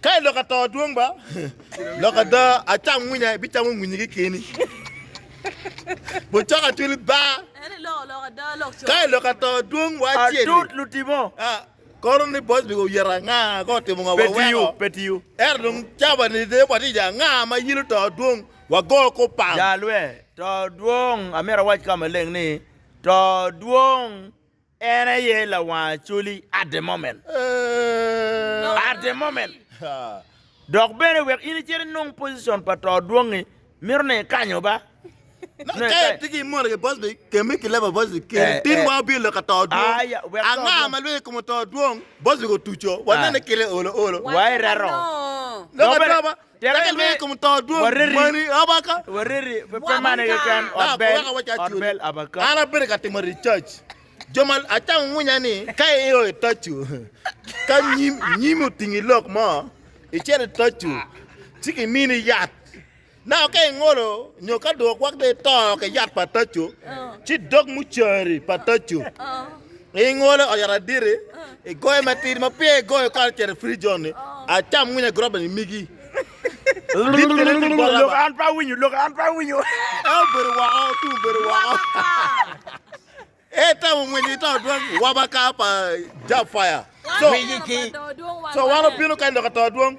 Ka iloko ato dwong ba loko ada acam winya ibicamo winyi ki keni. Bucok atwili ba ka iloko ato dwong wa acel. Adut lutimo. Kono ni boss bi oyero anga ko otimo nga wa weko. Petiyo. Ero dong caba ni de watija anga ma yilo to dwong wa go ko pam. Ja lwe to dwong amito awac ka maleng ni to dwong En aye lawang acoli at the moment, at the moment. Dok bene wek in icit inung pocicon pa to dwongi, mito ne ikanyo ba. Nongo ka itye ki imoni ki boss big kemi ki level boss big keni, tin wa wabino lok ka to dwong. Aya, wek to Anga dwong. ma lwel i kom to dwong? Boss big otuco, wanene kite olo olo. Wa ireto. Dok Dok bene, atoba, Tek en lweny i kom to dwong mani, Abaka? Pe mano keken, ot bel, Abaka? An abedo ka timo research. Jo ma acamo mwonya ni ka io i toco, ka nyimi otingi lok mo, icito i toco, ci kimini yat. Naka ka ingolo nyo ka dong okwak dong ito ki yat pa toco, ci dog mucari pa toco. I ngolo oyot aditi, i goyo matidi ma peya i goyo kare cito i free zone ni, acam winyo agroba ni migi. Dit ni rit i bola ba. An pe awinyo, lok an pe awinyo. E obedo woko, tung obedo woko. E tamo mwinyo i to dwong wabaka pa Jab Fire. So, so wan obino kany lok ato dwong.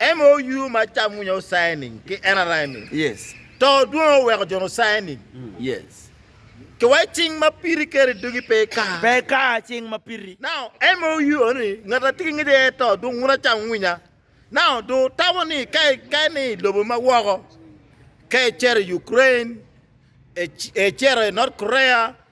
En ma oywe macam winyo osaye nining? Ki en araye ni, To dwongo oweko jo osaye nining? Ki wai cing ma piri keri dogi pe ika. Now, en ma oywe ni ngat atye ki ngec aye to dong wun acam winya. Now, dong otamo ni ka ikaye ni i lobo ma woko, ka icito i Ukraine, icito i North Korea,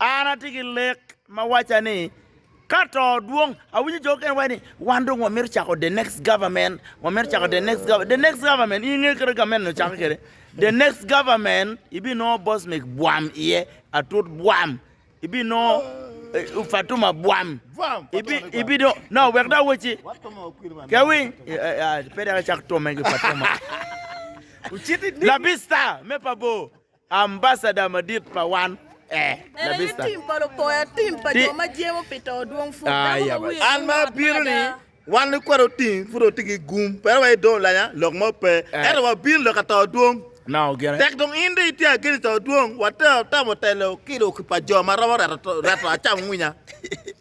An atye ki lek ma wacca ni ka to dwong, awinyo jo okene waco ni wan dong wamito cako the next government, wamito cako the next government, the next government in inge kite gamente nyo cake kede, the next government ibi nongo Bosmic bwam iye, Atut bwam, ibi nongo eh, Fatuma bwam, ibi, ibi do, no wek da awacci, ke awiny, eh, eh, ah, pe dek acak tome ki Fatuma, Labista me pa bor. Ambasada madit pa wan ee labista. An ma abino ni wan likwat oting pud oting ki gum pera wa ido lanya lok mo pe ento wa bino lok ato dwong tek dong in dong itye ageni to dwong wa tero tamo telo ki lok pa jo ma romo reto acam ngwinya.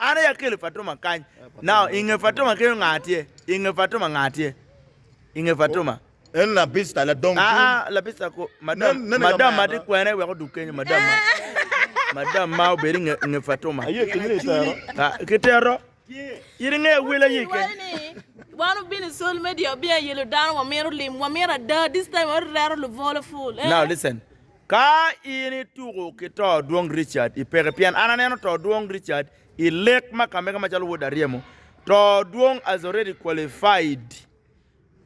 An aye akelo Fatuma kany. Now, i nge Fatuma kenyo nga tye? I nge Fatuma nga tye? I nge Fatuma? En labista ladong tung. Aa, labista kwo. Madam, madam ma ti kwene wek odug kenyo, madam ma. Madam ma obed i nge Fatuma. Aye kenyo ni itero. Ka, kitero. Iri nge awil aye kenyo. Wan obino i sol media, obino ayelo dano, wamito lim, wamito ada, this time wareto lubolo full, eh. Now listen. Ka in ituko ki to Dwong Richard i peke pien an aneno to Dwong Richard i lek ma kamege macalo Wod Aryemo, to Dwong as already qualified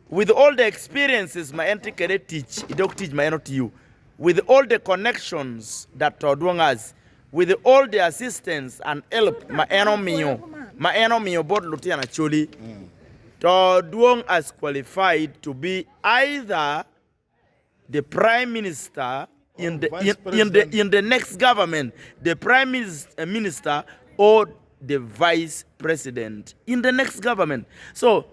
with all the experiences ma en tye kwede i tic i dog tic ma en otiyo, with all the connections that to Dwong has, with all the assistance and help ma en omiyo ma en omiyo bot lutino Acholi, to Dwong as qualified to be either The Prime Minister in the Vice President in the next government The Prime Minister or the Vice President in the next government So,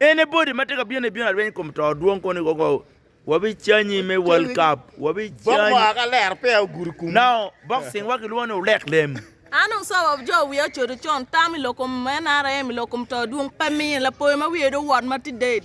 anybody ma tye ka bino ibino arweny i kom to dwong koni koko wabicanyi me World Cup wabicanyi Now, boxing wa kilwongo ni ulek lem. An dong Sir of Joe wiya ocodo con, tam i lok kom NRM i lok kom to dwong pe miye, lapoyo ma wiye dong owot ma tye dead.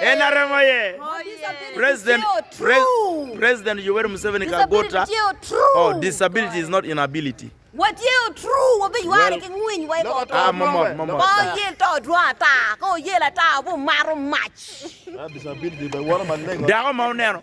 En aromo aye. President President Yoweri Museveni kar bota. Oh, disability is not inability. Watye true wabi yware ki ngwiny wa iko to. Ah, momot, momot. Ba oyel to odwong ata. Ka oyel ata obi omato mac. Dako ma oneno